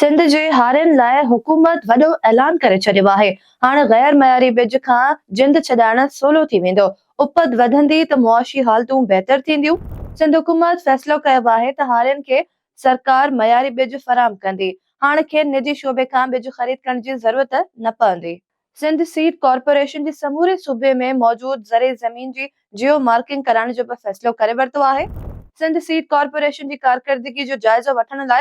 سنڌ جي هارين لاء حڪومت وڏو اعلان ڪري ڇڏيو آهي، هاڻ غير معياري ٻج کان جند ڇڏائڻ سولو ٿي ويندو، اپت وڌندي ته معاشي حالتون بهتر ٿينديون، سنڌ حڪومت فيصلو ڪيو آهي ته هارين کي سرڪار معياري ٻج فراهم ڪندي، هاڻ کين نجي شعبي کان ٻج خريد ڪرڻ جي ضرورت نه پوندي. سنڌ سيڊ ڪارپوريشن جي سموري صوبي ۾ موجود زرعي زمين جي جيو مارڪنگ ڪرائڻ جو به فيصلو ڪري ورتو آهي، سنڌ سيڊ ڪارپوريشن جي ڪارڪردگي جو جائزو وٺڻ لاء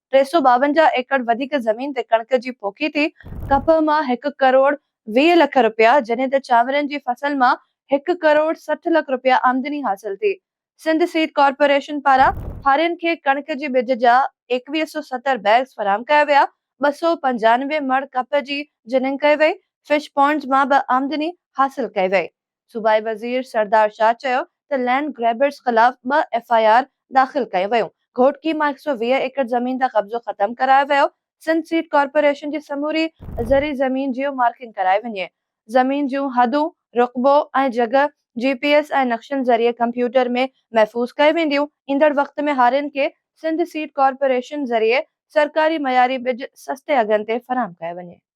ٽي سؤ ٻاونجاهه ايڪڙ وڌيڪ زمين تي ڪڻڪ جي پوکي تي ڪپهه مان هڪ ڪروڙ ويهه لک رپيا جڏهن ته چانورن جي فصل مان هڪ ڪروڙ سٺ لک رپيا آمدني حاصل ٿي سنڌ سيڊ ڪارپوريشن پاران هارين کي ڪڻڪ جي ٻج جا ايڪويهه سؤ ستر بيگز فراهم ڪيا ويا ٻه سؤ پنجانوي مڻ ڪپهه جي جننگ ڪئي وئي فش پونڊز مان به آمدني حاصل ڪئي وئي صوبائي وزير سردار شاهه چيو ته لينڊ گريبرز خلاف ٻه ايف آء آر داخل ڪيون ويون، گهوٽڪي مان هڪ سؤ ويهه ايڪڙ زمين تان قبضو ختم ڪرايو ويو، سنڌ سيڊ ڪارپوريشن جي سموري زرعي زمين جيو مارڪنگ ڪرائي وڃي، زمين جون حدون، رقبو ۽ جڳهه جي پي ايس ۽ نقشن ذريعي ڪمپيوٽر ۾ محفوظ ڪيون وينديون، ايندڙ وقت ۾ هارين کي سنڌ سيڊ ڪارپوريشن ذريعي سرڪاري معياري ٻج سستي اگهن تي فراهم ڪيو وڃي.